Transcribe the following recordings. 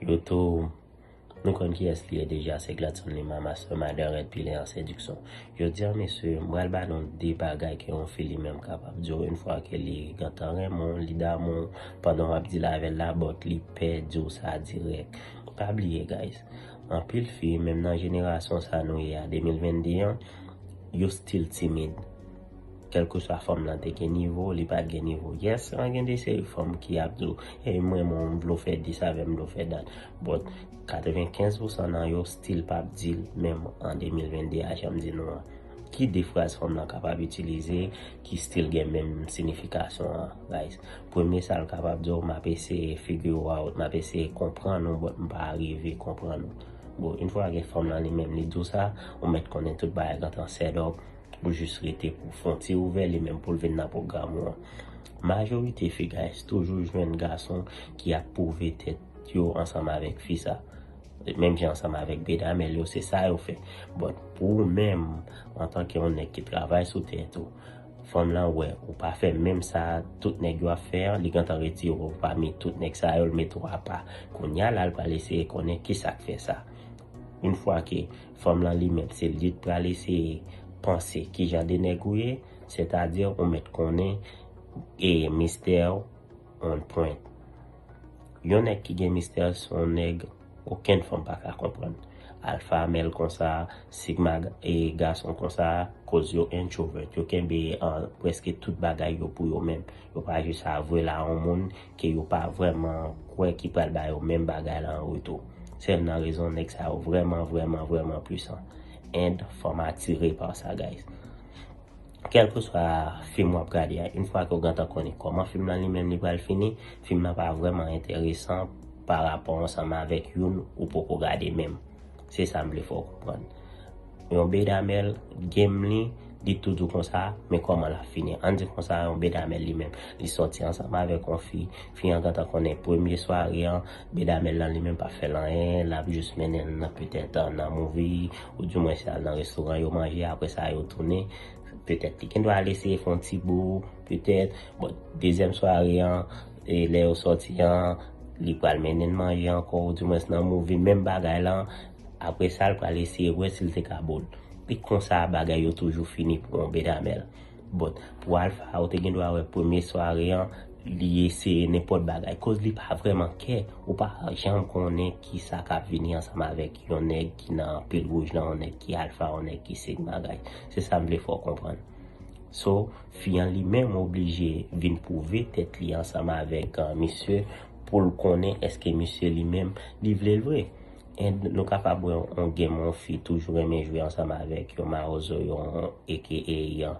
Doto Nou konn kiyès li ye deja se Gladson Lima master madan rèd pile an sediksyon Jodia mesye m pral ba nou 2 bagay ke yon fi li menm kapab di w yn fwa ke li gentan renmen w li damou w pandan w ap dil avèl la but li pè di w sa dirèk pa bliye guys anpil fi menm nan jenerasyon sa nou ye a 2022 an yo still timid. Kelkeswa fanm lan te gen nivo li pat gen nivo yes an gen de seri fanm ki ap di w ey m renmen w m vle w fè dis avè m m vle w fè dat but 95 pou san nan yo stil pap di l menm an 2022 a janm di nou an ki de fraz fanm lan kapab itilize ki stil gen menm sinifikasyon an guys premye sa l kapab di w m ap eseye figure w out m ap eseye konprann ou but m pa arive konprann ou bon une fwa gen fanm lan li menm li di w sa ou mèt konnen tout bagay gentan set up. Ou jis rete pou fon ti ouvè li menm poul vin nan pwogram ou an. Majorite fi guys toujou jwenn gason ki ap pwouve tèt yo ansanm avèk fi sa. Menm jan ansanm avèk bedamel yo se sa yo fè. But pou ou menm antanke yon nèg ki travay sou tèt ou, fanm lan wè ou pa fè menm sa tout nèg yo ap fè an, li gentan retire ou pami tout nèg sa yo, li mete ou apa. Kounya la li pral eseye konnen kisak fè sa. Une fwa ke Fanm lan li menm se li t pral eseye panse ki jan de nèg ou ye, sètadi ou mèt konnen e mistè w on pwent. Yon nèg ki gen mistè s on nèg okenn fanm pa ka konprann. Alfa mèl konsa, sigma e gason konsa koz yo introvert, yo kenbe an prèske tout bagay yo pou yo menm. Yo pa jis avwe l a on moun ke yo pa vrèman kwè ki pral ba yo menm bagay la an retou. Se youn nan rezon nèg sa yo vrèman vrèman vrèman pwisan. And fò m atire pa sa guys. Kèlkeswa fim wap gade a, youn fwa ke w gentan konnen kòman fim lan li menm li pral fini, fim lan pa vrèman enteresan pa rapò ansanm avèk youn ou poko gade menm. Se sa m vle fè w konprann. Yon bedamel game li li tou dou konsa men koman lap fini an di konsa yon bedamel li menm li soti ansanm avek yon fi fi an gentan konnen premye sware an bedamel lan li menm pap fel anyen lap jus mennenl nan petet nan movie ou di mwen se al nan restoran yo manje apre sa yo tounen petet li gendwa al eseye fè yon ti bou petet bon dezyem sware an e lè yo soti an li pral mennenl manje anko ou di mwen se nan movie menm bagay lan. Apre sa l pral eseye wè si l te ka bo l. E konsa bagay yo toujou fini pou yon Bedamèl. But, pou Alpha a ou te gen dwa wè premye sware an li eseye nenpòt bagay. Koz li pa vrèman kè, ou pa janm konnen kisa k ap vini ansanm avèk yon nèg ki nan pil wouj lan, yon nèg ki Alpha, yon nèg ki Sigma guys. Se sa m vle fè w konprann. So, fi an li menm oblije vin pwouve tèt li ansanm avèk misye pou l konnen èske misye li menm li vle l vre. And nou kapab wè yon game yon fi toujou renmen jwe ansanm avèk yon mawozo, yon aka yon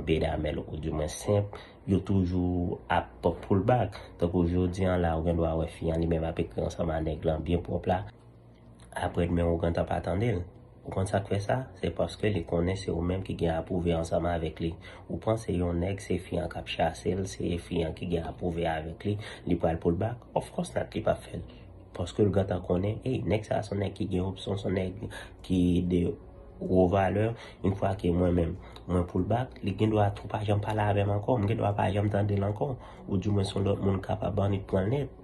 Bedamel ou di mwen senp, yo toujou ap pull back. Tankou jodi an la ou gen dwa wè fi an li menm ap ekri ansanm a nèg lan byen pwòp la, aprè dmen ou gentan pa tande l. Ou konn sak fè sa? Se paske li konnen se ou menm ki gen apwouve ansanm avèk li. Ou panse yon nèg se fi an kap chase l, se fi an ki gen apwouve avèk li, li pral pull back? Of course not, li pap fè l. Paske l gentan konnen, ey, nèg sa son nèg ki gen opsyon, son nèg ki de wo valè, yon fwa ke mwen menm, mwen pull back, li gen dwa tou pa janm pale avèm ankò, m gen dwa pa janm tande l ankò, ou di mwen son lòt moun kap abannik pran l nèt.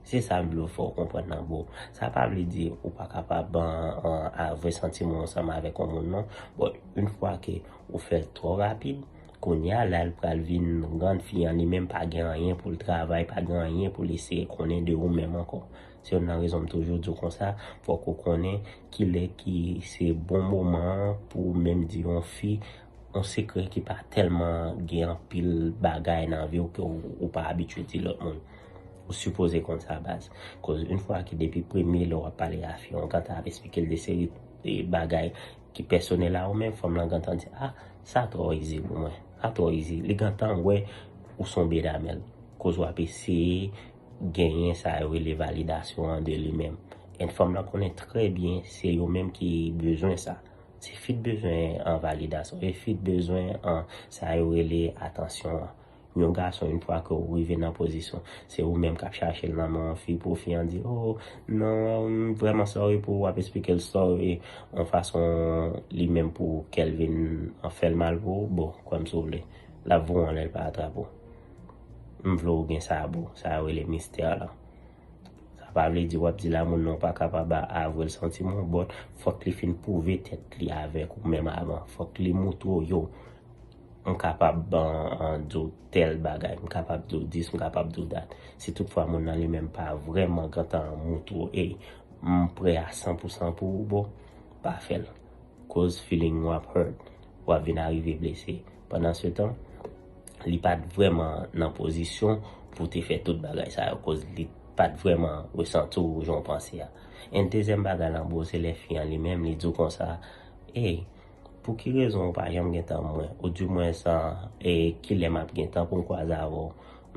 Se sa m vle w fè w konprann nan bro. Sa pa vle di ou pa kapab avwe santiman w ansanm avèk yon moun non, but une fwa ke ou fè l twò rapid, kounye a la l pral vin rann fi an li menm pa gen anyen pou l travay, pa gen anyen pou l eseye konnen de ou menm ankò. Se youn nan rezon m toujou di w konsa, fòk ou konnen kilè ki se bon moman an pou w menm di yon fi yon sekrè ki pa tèlman gen anpil bagay nan vi w ke ou pa abitye di lòt moun. Ou sipoze konn sa baz. Koz yn fwa ki depi premye lè wap pale a fi an gentan ap esplikel de seri bagay ki pèsonèl a ou menm fanm lan gentan di ah sa trò izi pou mwen sa trò izi li gentan wè ou son bedamèl koz wap eseye genyen sa yo rele validasyon an de li menm and fanm lan konnen trè byen se yo menm ki bezwen sa se fi t bezwen an validasyon e fi t bezwen an sa yo rele atansyon an. Yon gason yn fwa ke ou rive nan pozisyon se ou menm kap chache l nan men yon fi pou fi an di oh nan m vreman sorry pou wap esplike l sorry yon fason li menm pou kè l vin an fè l mal pou ou boo kwè m si w vle lap voye w lè l pa atrap ou m vle w gen sa boo sa yo rele mistè lan sa pa vle di wap di l a moun nan w pa kapab avwe l santiman w but fok li fin pwouve tèt li avèk ou menm avan fok li moutre w yo M kapab di w tèl bagay, m kapab di w dis, m kapab di w dat. Si tout fwa moun nan li menm pa vrèman gentan moutre w ey m prè a san pou san pou ou, bon, pa fè l. Koz feeling ou ap hurt, ou ap vin arive blese. Pandan se tan, li pa t vrèman nan pozisyon pou te fè tout bagay sa yo koz li pa t vrèman resanti w jan w panse a. And dezyèm bagay lan bro, se lè fi an li menm li di w konsa, ey. Pou ki rezon ou pa janm gen tan mwen, ou di mwen sa e ki lè map gen tan poum kwaze avèw,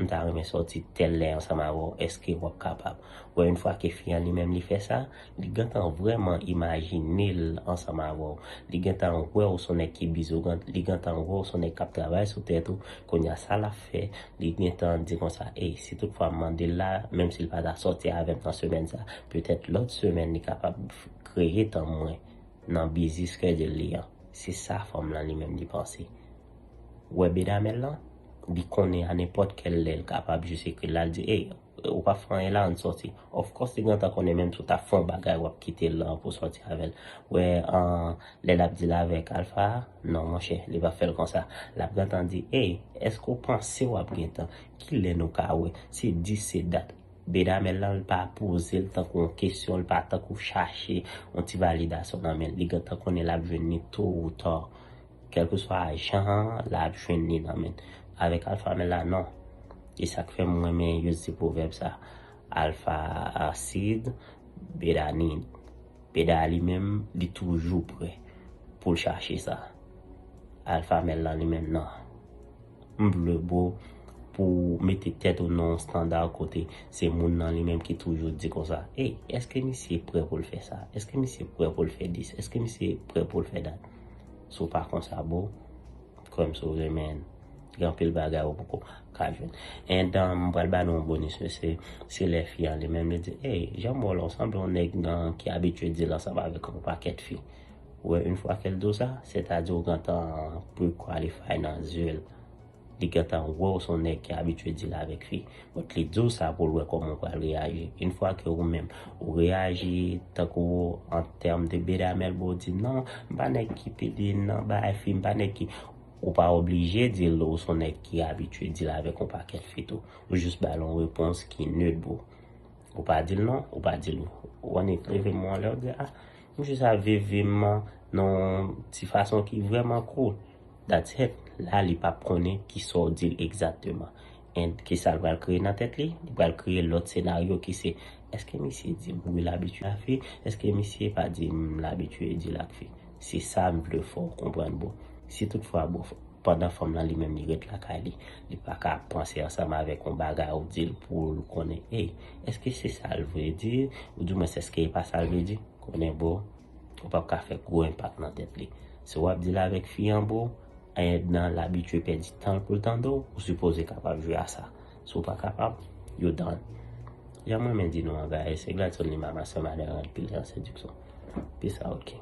m ta renmen sòti tèl lè ansanm avèw eske wap kapab? Wè yn fwa ke fi an li menm li fè sa, li gentan vrèman imajinel ansanm avèw, li gentan wèw son nèg ki bizogan, li gentan wèw son nèg kap travay sou tèt ou, kounya sa lap fè, li gentan di konsa ey si tout fwa m mandel la, menm sil pata sòti avèm nan semèn sa, petèt lòt semèn li kapab kreye tan mwen. Nan busy schedule li an. Se sa fanm lan li menm li panse. Ou wè Bedamel lan? Li konnen a nenpòt kèl lè l kapab jis ekri l la l di ey ou pa fè anyen la ann sòti. Of course li gentan konnen menm si w ta fè yon bagay w ap kite l lan pou w sòti avè l. Ou wè an lè l ap di l avèk Alpha a? Non monchè li pa fè l konsa. L ap gentan di ey èske w panse w ap gen tan? Ki lè nou ka wè? Se di se dat. Bedamel lan l pa poze l tankou yon kesyon l pa tankou chache yon ti validasyon nan men l li gentan konnen l ap jwenn ni to ou ta kèlkeswa jan an l ap jwenn ni nan men avèk alpha men la non e sak fè m renmen yo di pwovèb sa alpha acid beda need beda li menm li toujou prè pou l chache sa alpha men lan li menm nan. M vle bro pou w mete tèt ou nan yon standard kote se moun nan li menm ki toujou di konsa ey eske misye prè pou l fè sa eske misye prè pou l fè dis eske misye prè pou l fè dat si w pa konsa bro kwè m si w vle men gen anpil bagay ou poko ka jwenn and m pral ba nou yon bonus mesye se lè fi an li menm li di ey jan m wè w la w sanble yon nèg nan ki abitye di l ansanm avèk yon pakèt fi Ou wè yn fwa kel do sa, sètadi ou gentan pre qualify nan yeux l. Li gentan wè w son nèg ki abitye deal avèk fi. But li di w sa pou l wè kòman w pral reyaji. Yn fwa ke ou menm ou reyaji tankou an tèm de bedamèl bon ou di non, m pa nèg ki pede nan bay fi, m pa nèg ki. Ou pa oblije di l ou son nèg ki abitye deal avèk yon pakèt fi tou. Ou jis ba l yon repons ki neut bro. Ou pa di l non, ou pa di l wi. Ou wè nèg leve men w anlè ou di a. Misye sa veve man nan yon ti fason ki vreman cool. That's it. La li pap konnen ki sa w di l egzakteman. And ki sa l pral kreye nan tèt li? Li pral kreye lòt senaryo ki se, Eske misye di m wi l abitye ak fi? Eske misye pa di m l abitye di l ak fi? Se sa m vle fè w konprann bro. Si tout fwa bro, pandan fanm lan li menm li ret lakay li, li pa ka panse ansanm avèk yon bagay ou di l pou l konnen, Ey! Eske se sal vle di? Ou di mwen eske e pa sal vle di? Konnen bro, ou pap ka fè gwo enpak nan tèt li. Si wap deal avèk fi an bro, èd nan l abitye pèdi tan l pou l tande w, ou sipoze kapab jwe a sa. Si w pa kapab, you done. Janm renmen di nou an guys, se Gladson Lima Mastermind Anpil nan sediksyon. Peace out king.